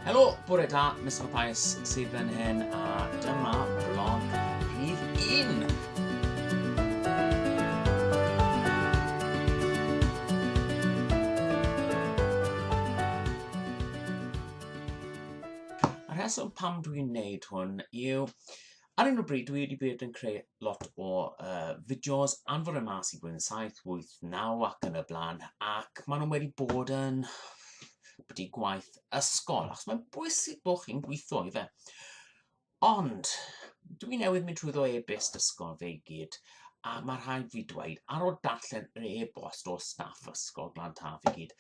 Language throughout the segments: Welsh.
Helo, bore da, Mr Mathias sydd fan hyn a dyma vlog rhif 1. rheswm pam dwi'n neud hwn yw Ar hyn o bryd dwi wedi bod yn creu lot o uh, fideos anfor y mas i blwyddyn 7, 8, 9 ac yn y blaen ac maen nhw wedi bod yn wedi gwaith ysgol achos mae'n bwysig bod chi'n gweithio i fe. Ond dwi newydd mynd trwyddo e-byst ysgol fe i gyd a mae rhaid fi dweud ar ôl darllen yr e-bost o staff ysgol Glan Taf i gyd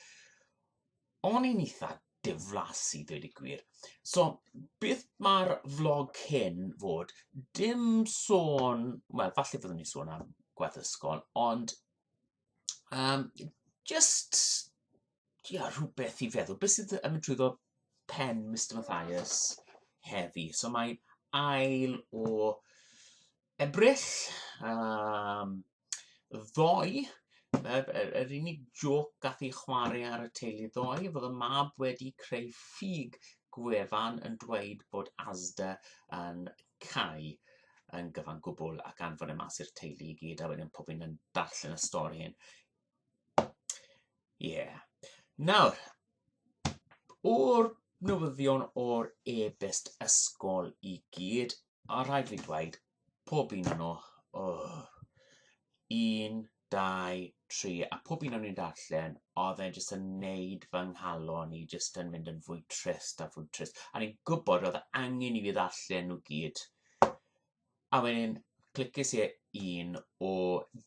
O'n i'n eitha diflas i ddweud y gwir. So beth mae'r vlog cyn fod? Dim sôn, wel falle byddwn ni'n sôn am gwaith ysgol, ond um, just ia, rhywbeth i feddwl. Beth sydd yn mynd trwyddo pen Mr Mathias heddi? So mae ail o Ebrill yym ddoe yr yr yr unig jôc gath ei chware ar y teulu ddoe fod y mab wedi creu ffug gwefan yn dweud bod Asda yn cau yn gyfan gwbl ac anfon e mas i'r teulu i gyd a wedyn pob un yn darllen y stori hyn. Ie. Yeah. Nawr, o'r newyddion o'r e-byst ysgol i gyd, A rhaid fi dweud, pob un o'n nhw, o, un, dau, tri, a pob un o'n i'n darllen, oedd e'n jyst yn neud fy nghalon i jyst yn mynd yn fwy trist a fwy trist. A ni'n gwybod oedd angen i fi ddarllen nhw gyd. A wedyn, clicis i e un o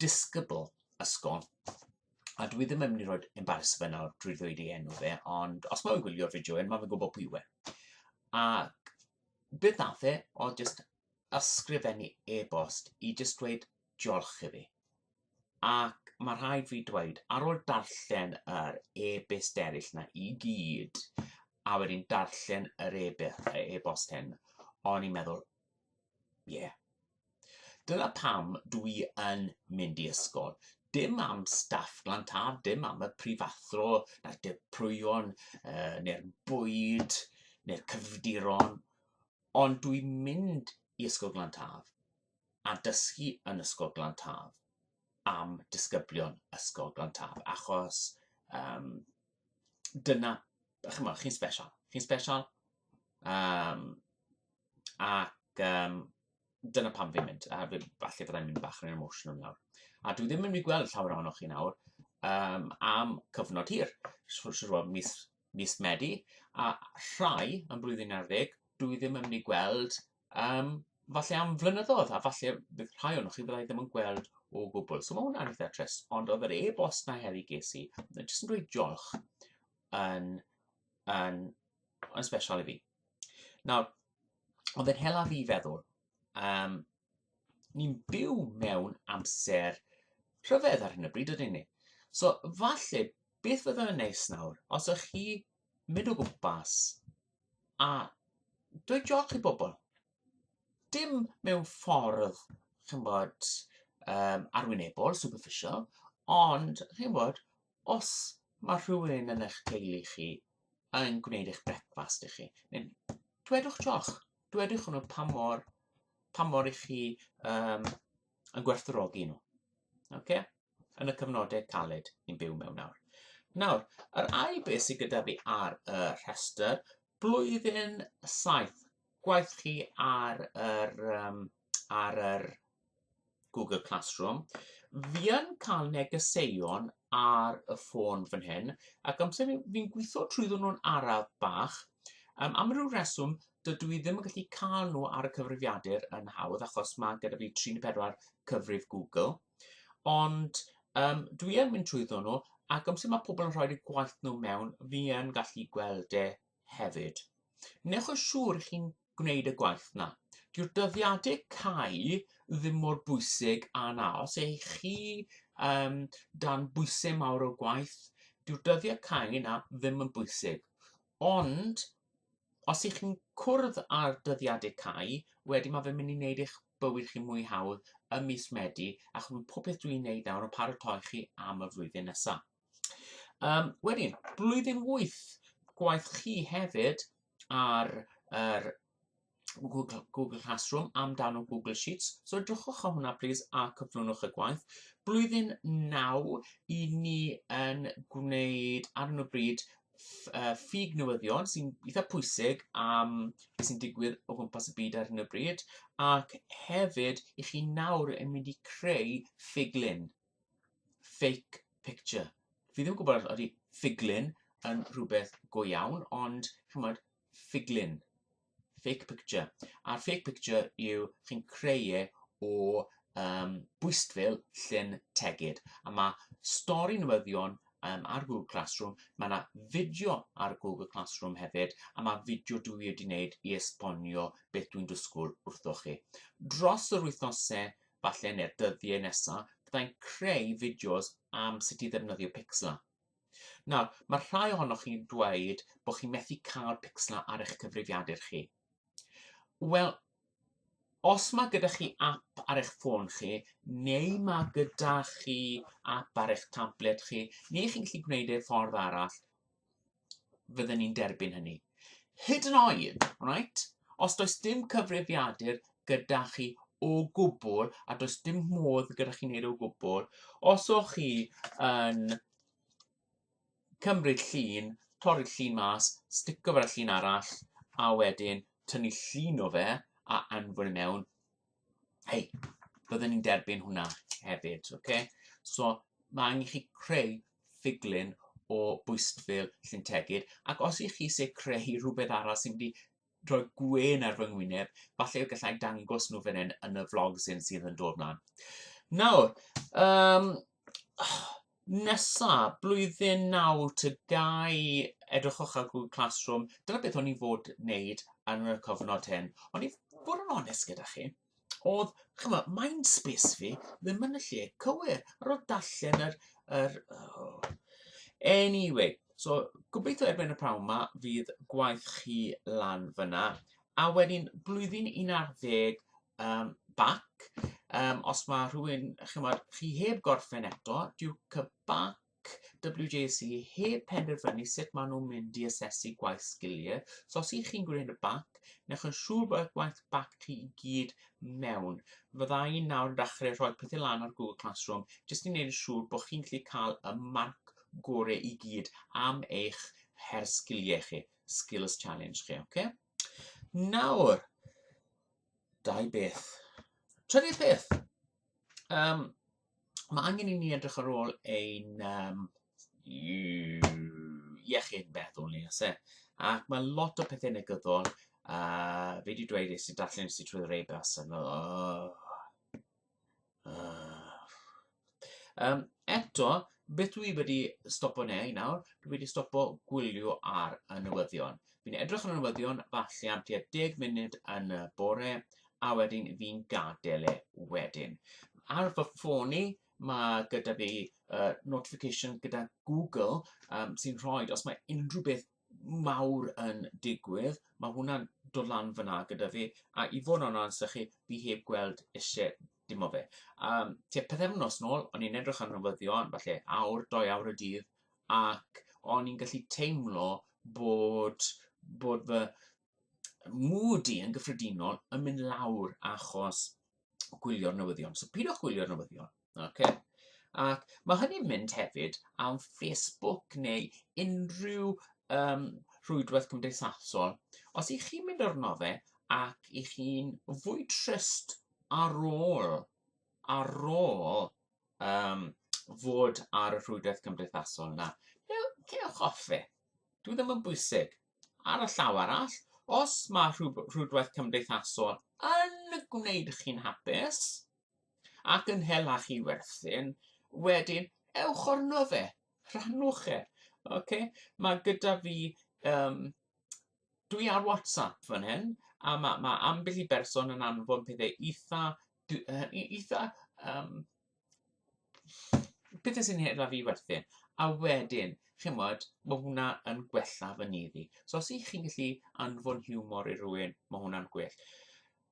disgybl ysgol, a dwi ddim yn mynd i roi embarrassment fe nawr drwy ddweud ei enw fe, ond os mae'n gwylio'r fideo hyn, mae'n gwybod pwy yw e. Ac beth nath e oedd jyst ysgrifennu e-bost i jyst dweud diolch i fi. Ac mae rhaid fi dweud, ar ôl darllen yr e-byst eraill na i gyd, a wedyn darllen yr e-bost hyn, o'n i'n meddwl, ie, yeah, Dyna pam dw i yn mynd i ysgol. Dim am staff Glan Taf, dim am y prifathro, na'r dirprwyon, uh, neu'r bwyd, neu'r cyfdiron, ond dw i'n mynd i Ysgol Glan Taf a dysgu yn Ysgol Glan Taf am disgyblion Ysgol Glan Taf, achos um, dyna, chymod, chi'n special. Chi'n special, um, ac um, dyna pam fi'n mynd, a falle byddai'n mynd bach yn emotional nawr. A dwi ddim yn mynd i gweld llawer ohonoch chi nawr um, am cyfnod hir, siwr mis, mis Medi, a rhai yn blwyddyn ar ddeg, dwi ddim yn mynd i gweld um, falle am flynyddoedd, a falle bydd rhai o'n chi byddai ddim yn gweld o gwbl. So mae hwnna'n eitha trist, ond oedd yr e-bost na heddi ges i, jyst yn dweud diolch yn, yn, yn special i fi. Nawr, Ond yn hela fi feddwl, um, ni'n byw mewn amser rhyfedd ar hyn o bryd, ydyn ni? So, falle, beth fydda yn neis nawr, os ych chi mynd o gwmpas a dweud joch i bobl. Dim mewn ffordd, chi'n bod, um, arwynebol, superficial, ond, chi'n bod, os mae rhywun yn eich teulu chi yn gwneud eich brecwast i chi, neu dwedwch joch, dwedwch nhw pa mor, pa mor i chi um, yn gwerthorogi nhw. Okay? Yn y cyfnodau caled ni'n byw mewn nawr. Nawr, yr ail beth sydd gyda fi ar y rhestr Blwyddyn saith. Gwaith chi ar yr yym ar yr Google Classroom. Fi yn cael negeseuon ar y ffôn fan hyn ac amser hyn fi'n gwitho trwyddyn nhw'n araf bach yym am ryw reswm dydw i ddim yn gallu cael nhw ar y cyfrifiadur yn hawdd achos ma' gyda fi tri neu pedwar cyfrif Google. Ond um, dwi yn mynd trwyddo nhw, ac amser mae pobl yn rhoi'r gwaith nhw mewn, fi yn gallu gweld e hefyd. Newch yn siŵr chi'n gwneud y gwaith na. Dyw'r dyddiadau cau ddim mor bwysig a na. Os eich chi um, dan bwysau mawr o gwaith, dyw'r dyddiau cau na ddim yn bwysig. Ond os ych chi'n cwrdd â'r dyddiadau cau, wedyn mae fe'n mynd i wneud eich bywyd chi mwy hawdd ym mis Medi, ac mae popeth dwi'n gwneud nawr yn paratoi chi am y flwyddyn nesaf. Um, wedyn, blwyddyn wyth, gwaith chi hefyd ar yr Google, Google Classroom amdano Google Sheets. So edrychwch o hwnna plîs a cyflwynwch y gwaith. Blwyddyn naw, i ni yn gwneud ar hyn o bryd uh, ffug newyddion sy'n eitha pwysig am beth sy'n digwydd o gwmpas y byd ar hyn o bryd, ac hefyd i chi nawr yn mynd i creu ffiglun, fake picture. Fi ddim yn gwybod os ydy ffiglun yn rhywbeth go iawn, ond chymod, ffiglun. fake picture. A'r fake picture yw chi'n creu e o um, bwystfil llun tegid. A mae stori newyddion um, ar Google Classroom, mae yna fideo ar Google Classroom hefyd, a mae fideo dwi wedi wneud i esbonio beth dwi'n dysgwyl wrtho chi. Dros yr wythnosau, falle neu'r dyddiau nesaf, byddai'n creu fideos am sut i ddefnyddio Pixlr. Nawr, mae rhai ohonoch chi'n dweud bod chi'n methu cael picslau ar eich cyfrifiadur chi. Wel, os mae gyda chi app ar eich ffôn chi, neu mae gyda chi app ar eich tablet chi, neu chi'n gallu gwneud ei ffordd arall, fydden ni'n derbyn hynny. Hyd yn oed, right, os does dim cyfrifiadur, gyda chi o gwbl a does dim modd gyda chi wneud o gwbl. Os o'ch chi yn cymryd llun, torri'r llun mas, stico fe'r llun arall a wedyn tynnu llun o fe a anfon i e mewn, hei, byddwn ni'n derbyn hwnna hefyd, okay? So mae angen chi creu ffuglun o bwystfil lluntegid ac os ych chi eisiau creu rhywbeth arall sy'n mynd i rhoi gwên ar fy ngwyneb, falle y gallai dangos nhw fan hyn yn y vlog sy'n sydd yn dod mlaen. Nawr, um, nesa, blwyddyn naw, tygau, edrychwch ar Google Classroom, dyna beth o'n i'n fod wneud yn y cyfnod hyn. Ond i fod yn onest gyda chi, oedd, ch'mo', mind space fi ddim yn y lle cywir. Ar ôl darllen yr yr oh. Anyway, so gobeithio erbyn y pnawn 'ma fydd gwaith chi lan fyna. A wedyn blwyddyn 11 um, bac, um, os mae rhywun, chymod, chi heb gorffen eto, Duke y bac, WJC heb penderfynu sut maen nhw'n mynd i asesu gwaith sgiliau. So os ych chi'n gwneud y bac, newch yn siŵr bod gwaith bac chi i gyd mewn. Fydda i nawr yn dechrau rhoi pethau lan ar Google Classroom jyst i wneud yn siŵr bod chi'n gallu cael y marc gorau i gyd am eich her sgiliau chi, skills challenge chi, oce? Okay? Nawr, dau beth. Trydydd peth, um, Mae angen i ni edrych ar ôl ein um, iechyd meddwl ni, oes e? Ac mae lot o pethau negyddol, a uh, fe wedi dweud eisiau i darllen eisiau trwy rei bas, a fel, oh, uh. um, eto, beth dwi wedi stopo neu nawr, dwi wedi stopo gwylio ar y newyddion. Fi'n edrych ar y newyddion falle am tua deg munud yn y bore a wedyn fi'n gadael e wedyn. Ar fy ffôn i, mae gyda fi uh, notification gyda Google um, sy'n rhoi, os mae unrhyw beth mawr yn digwydd, mae hwnna'n dod lan fyna gyda fi, a i fod yn onest â chi, fi heb gweld eisiau Dim o fe. Um, tua pethefnos nôl, o'n i'n edrych ar newyddion, falle awr, doi awr y dydd, ac o'n i'n gallu teimlo bod, bod fy mood i yn gyffredinol yn mynd lawr achos gwylio'r newyddion. So pidwch gwylio'r newyddion. Okay? Ac mae hynny'n mynd hefyd am Facebook neu unrhyw um, rhwydwaith cymdeithasol. Os i chi'n mynd arno fe ac i chi'n fwy trist ar ôl ar ôl yym fod ar y rhwydwaith cymdeithasol 'na, dew- cewch off e. Dyw e ddim yn bwysig. Ar y llaw arall, os mae rhwb- rhwydwaith cymdeithasol yn gwneud chi'n hapus ac yn hela chi werthin, wedyn ewch arno fe, rhannwch e, ocê? Mae gyda fi yym Dwi ar WhatsApp fan hyn, a ma' ma' ambell i berson yn anfon pethe itha dw- yy i- itha yym pethe sy'n her 'da fi werthin, a wedyn ch'mod ma' hwnna yn gwella fy nydd i. So os 'ych chi'n gallu anfon hiwmor i rywun ma' hwnna'n gwell.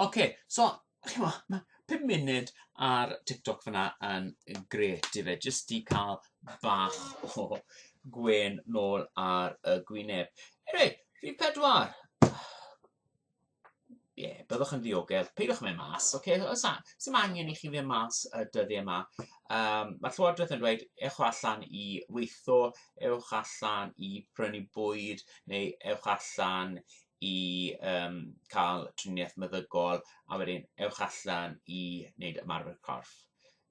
Ok, so, chimo, mae 5 munud ar TikTok fyna yn gret i fe, jyst i cael bach o gwen nôl ar y gwyneb. Anyway, rhif pedwar. Ie, yeah, byddwch yn ddiogel. Peidiwch yn mynd mas, oce? Okay? Os sy'n angen i chi fynd mas y dyddiau yma. Um, mae Llywodraeth yn dweud, ewch allan i weithio, ewch allan i prynu bwyd, neu ewch allan i yym ca'l triniaeth meddygol a wedyn ewch allan i neud ymarfer corff.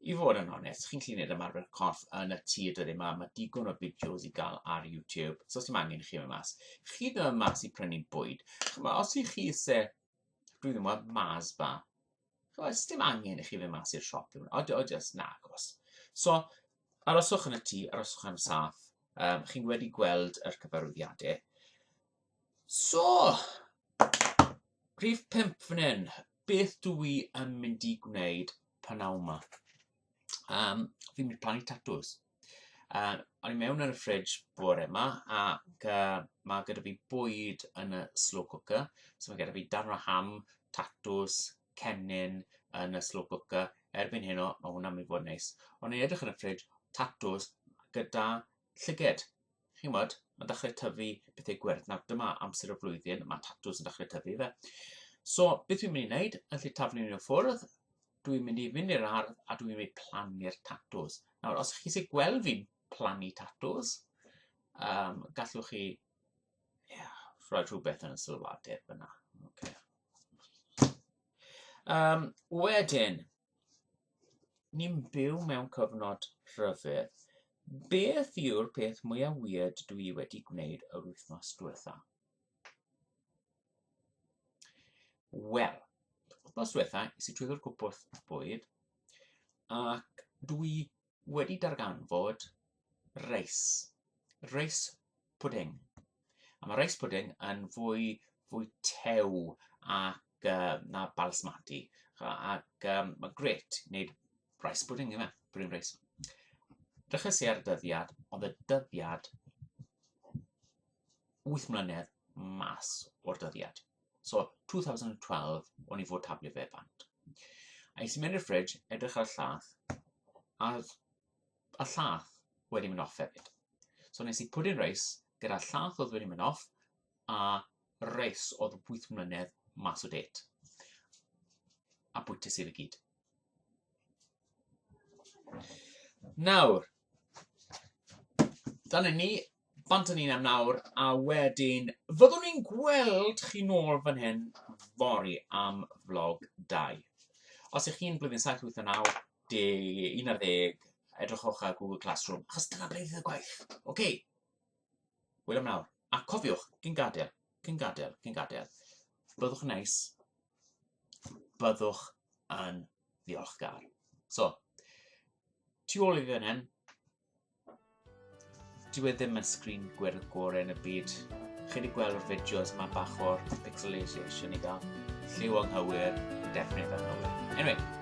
I fod yn onest, chi'n gallu neud ymarfer corff yn y tŷ y dyddiau 'ma, ma' digon o fideos i gael ar YouTube, so sdim angen i chi mynd mas. Chi ddim yn mynd mas i prynu bwyd. Ch'mo', os y'ch chi isie, dwi ddim yn gwbod, Mars bar. Oes, dim angen i chi fynd mas i'r siop. O, o jyst na, agos. So, aroswch yn y tŷ, aroswch am saff. Um, chi'n wedi gweld yr cyfarwyddiadau. So, rhif pimp fan hyn, beth dw i yn mynd i gwneud pan awma? Um, fi'n mynd plannu tatws. A o'n i mewn ar y fridge bore 'ma ac yy ma' gyda fi bwyd yn y slow cooker, so ma' gyda fi darn o ham, tatws, cennin yn y slow cooker, erbyn heno ma' hwnna'n myn' i fod yn neis. O'n i'n edrych yn y fridge, tatws gyda llyged. chi'n gwybod, mae'n dechrau tyfu pethau gwyrdd. Nawr, dyma amser y flwyddyn, mae tatws yn dechrau tyfu fe. So, beth dwi'n mynd i wneud, yn lle taflu nhw ffwrdd, dwi'n mynd i fynd i'r ardd a dwi'n mynd i plannu'r tatws. Nawr, os chi eisiau gweld fi'n plannu tatws, um, gallwch chi yeah, rhoi rhywbeth yn y sylwadau fyna. Okay. Um, wedyn, Ni'n byw mewn cyfnod rhyfedd. Beth yw'r peth mwya weird dw i wedi gwneud yr wythnos diwetha? Wel, wythnos diwetha, es i trwyddo'r cwpwrdd bwyd, ac dw i wedi darganfod reis, reis pwding. A mae reis pwding yn fwy, fwy tew ac uh, na balsmati. Ac um, mae gret wneud reis pwding yma, pwding reis. Dechrau si ar y dyddiad, ond y dyddiad 8 mlynedd mas o'r dyddiad. So, 2012, o'n i fod tablu fe bant. A nes i mynd i'r ffridge, edrych ar y llath, a y llath wedi mynd off hefyd. So nes i put in reis, gyda llath oedd wedi mynd off, a reis oedd 8 mlynedd mas o det. A bwytes i fe gyd. Nawr, dyna ni, bant â ni am nawr, a wedyn fyddwn ni'n gweld chi nôl fan hyn fory am vlog 2. Os ych chi'n blwyddyn 7, 8, 9, 10, 11, edrychwch ar Google Classroom, achos dyna ble fydd y gwaith. OK. Hwyl am nawr, a cofiwch, cyn gadael. Cyn gadael, cyn gadael. Byddwch yn neis. Byddwch yn ddiolchgar. So, tu ôl i fan hyn, dyw e ddim yn sgrin gwyrdd gore yn y byd. Chi wedi gweld o'r fideos mae bach o'r pixelisation i gael. Lliw anghywir, definitely anghywir. Anyway,